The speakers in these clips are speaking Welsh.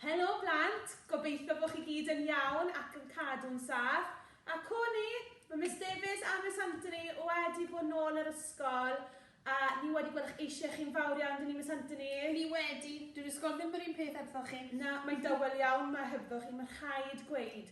Helo plant, gobeithio bod chi gyd yn iawn ac yn cadw'n saff. A co ni, mae Miss Davies a Miss Anthony wedi bod nôl yr ysgol a ni wedi gweld eich eisiau chi'n fawr iawn, dyn ni Miss Anthony? Ni wedi, dyw'r ysgol ddim yr un peth hebddoch chi. Na, mae'n dawel iawn 'ma hebddoch chi, mae'n rhaid gweud.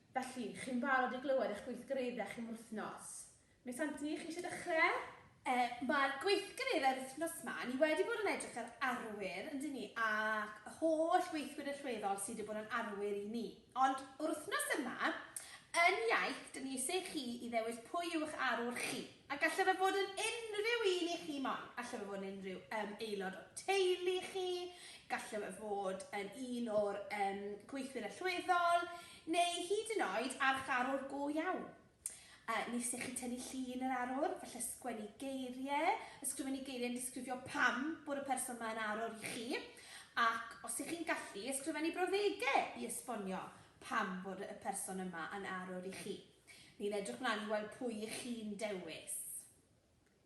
Felly, chi'n barod i glywed eich gweithgareddau chi am yr wythnos? Miss Anthony, chi eisiau dechrau? Yy, mae'r gweithgareddau'r wythnos ma, ni wedi bod yn edrych ar arwyr, yndyn ni, ac y holl weithwyr allweddol sydd wedi bod yn arwyr i ni. Ond o'r wythnos yma, yn iaith, dyn ni eisiau chi i ddewis pwy yw'ch arwr chi. A gallai fe fod yn unrhyw un i chi moyn. Gallai fe fod yn unrhyw um, aelod o teulu chi, gallai fe fod yn un o'r um, gweithwyr allweddol, neu hyd yn oed archarwr go iawn. Uh, ni sy'n chi tynnu llun yr arwr, falle sgwennu geiriau, ysgrifennu geiriau yn disgrifio pam bod y person yma yn arwr i chi, ac os ych chi'n gallu, ysgrifennu brawddegau i esbonio pam bod y person yma yn arwr i chi. Ni'n edrych mlaen i weld pwy y'ch chi'n dewis.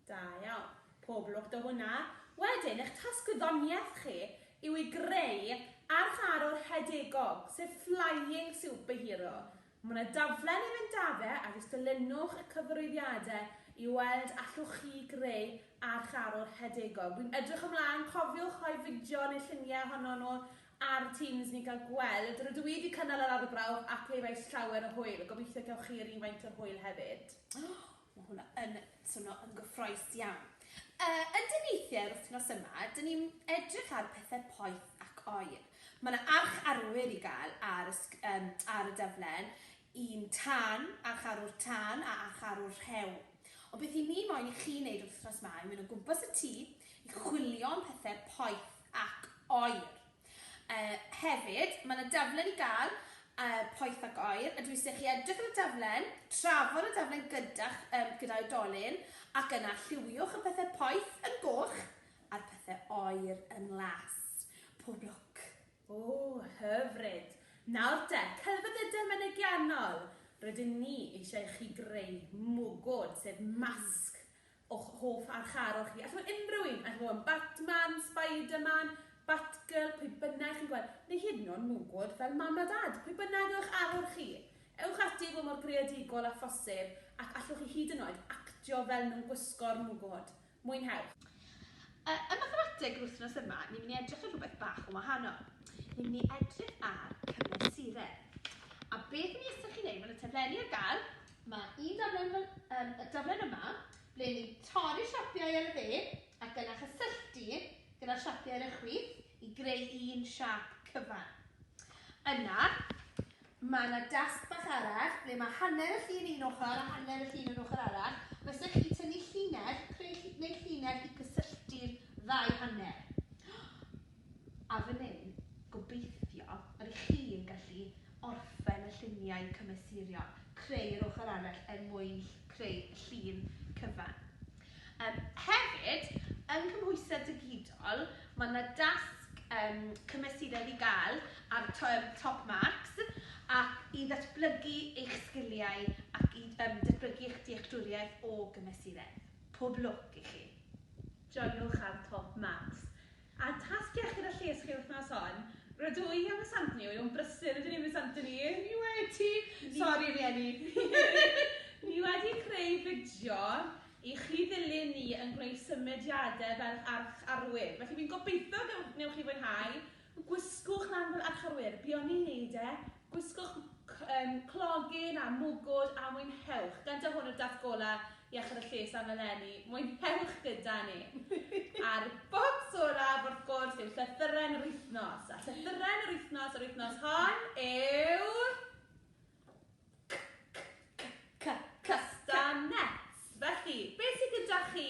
Da iawn. Pob lwc 'da hwnna. Wedyn, eich tasg gwyddoniaeth chi yw i greu archarwr rhedegol, sef flying superhero. Mae yna daflen i fynd â fe a jyst dilynwch y cyfarwyddiadau i weld allwch chi greu archarwr rhedegol. Wi'n edrych ymlaen, cofiwch rhoi fideo neu lluniau ohonon nhw ar Teams ni gael gweld. Rydw i wedi cynnal yr arbrawf a clywais llawer o hwyl. Gobeithio gewch chi rywfaint o'r hwyl hefyd. Mae hwnna yn swnio yn gyffroes iawn. Yy, ydyn weithiau yr wythnos yma, dyn ni'n edrych ar pethau poeth ac oer. Mae yna arch arwyr i gael ar y, sg- yym, ar y daflen, un tân, arch arwr tân a arch arwr rhew. Ond beth 'y ni moyn i chi wneud yr wythnos 'ma yw mynd o gwmpas y tŷ i chwilio am pethau poeth. ac oer. Yy hefyd, mae yna daflen i gael yy poeth ac oer, a dwi eisiau chi edrych ar y daflen, trafod y daflen gyda'ch um, gyda oedolyn, ac yna lliwiwch y pethau poeth yn goch a'r pethau oer yn las. Pob lwc! O, hyfryd! Nawr de, celfyddydau mynegiannol! Rydyn ni eisiau i chi greu mwgwd, sef masg, o'ch hoff archarwch chi. Allai fod unrhyw un, allai fod yn Batman, Spiderman, Batgirl, pwy bynnag chi'n gweld, neu hyd yn oed mwgwd fel mam a dad, pwy bynnag yw'ch arwr chi. Ewch ati i fod mor greadigol â phosib ac allwch chi hyd yn oed actio fel nhw'n gwisgo'r mwgwd. Mwynhewch! Ym Mathemateg yr wythnos yma, ni'n mynd i edrych ar rhywbeth bach yn wahanol. Ni'n mynd i edrych ar cymesuredd. A beth i ni isie chi wneud, mae yna taflenni ar gael, Mae un daflen fel yym y daflen yma ble ni'n torri siapiau ar y dde ac yna chysylltu gyda siapiau ar y chwith i greu un siap cyfan. Yna, mae yna dasg bach arall ble mae hanner y llun un ochr a hanner y llun yr ochr arall. Fysa chi tynnu llinell, creu neu llinell i cysylltu'r ddau hanner. A fan hyn, gobeithio, yr ych chi yn gallu orffen y lluniau cymesuriol, creu yr ochr arall er mwyn creu y llun cyfan. Um, hefyd, yng nghymhwysedd digidol, mae yna dasg um, cymesuredd i gael ar Top Marks ac i ddatblygu eich sgiliau ac i um, datblygu eich dealltwriaeth o gymesuredd. Pob lwc i chi! Joiwch ar Top Marks A tasg iechyd a lles chi wythnos hon? Rydw i a Miss Anthony, wy o'n brysur ydyn ni Miss Anthony? Ni wedi! Sori rieni! Ni wedi creu fideo i chi ddilyn ni yn gwneud symudiadau fel arch arwyr, felly fi'n gobeithio newch chi fwynhau! Gwisgwch lan fel arch arwyr, buon ni'n neud e Gwisgwch clogyn a mwgwd a mwynhewch! Gyda hwn o Daith Golau Iechyd a Lles am eleni, mwynhewch gyda ni! A'r bocs olaf, wrth gwrs, yw llythyren yr wythnos. A llythyren yr wythnos yr wythnos hon yw... Castanets! Felly, beth sydd gyda chi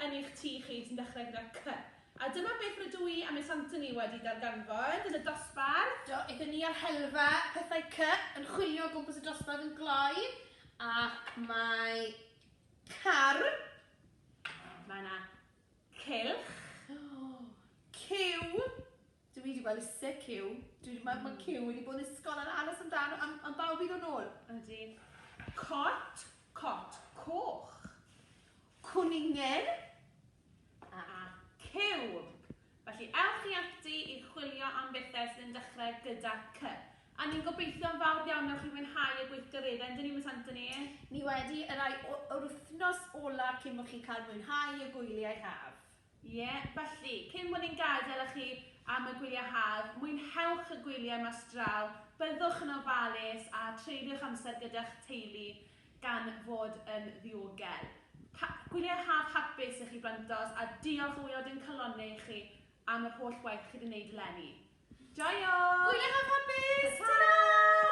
yn eich tŷ chi sy'n dechrau gyda C? A dyma beth rydw i a Miss Anthony wedi darganfod yn y dosbarth. Do, aethon ni ar helfa pethau C yn chwilio o gwmpas y dosbarth yn gloi, ac mae car, mae 'na Cylch. Cyw. Dw i 'di gweld isie cyw. Dwi 'di meddwl bod cyw wedi bod yn ysgol yn aros amdano am am bawb i ddod nôl. Ydi. Cot. Cot coch. Cwningen. A cyw. Felly ewch chi ati i chwilio am bethau sydd yn dechrau gyda cy. A ni'n gobeithio yn fawr iawn newch chi fwynhau y gweithgareddau, yndyn ni, Miss Anthony? Ni wedi, y rhai o, yr wythnos olaf cyn bod chi'n cael mwynhau y gwyliau haf. Ie, felly, cyn bod ni'n gadael â chi am y gwyliau haf, mwynhewch y gwyliau mas draw, byddwch yn ofalus a treulio'ch amser gyda'ch teulu. gan fod yn ddiogel. Ha- gwyliau haf hapus i chi blentos a diolch o waelod ein calonnau i chi am yr holl waith chi 'di neud eleni. Joio! Gwyliau haf hapus! Tara!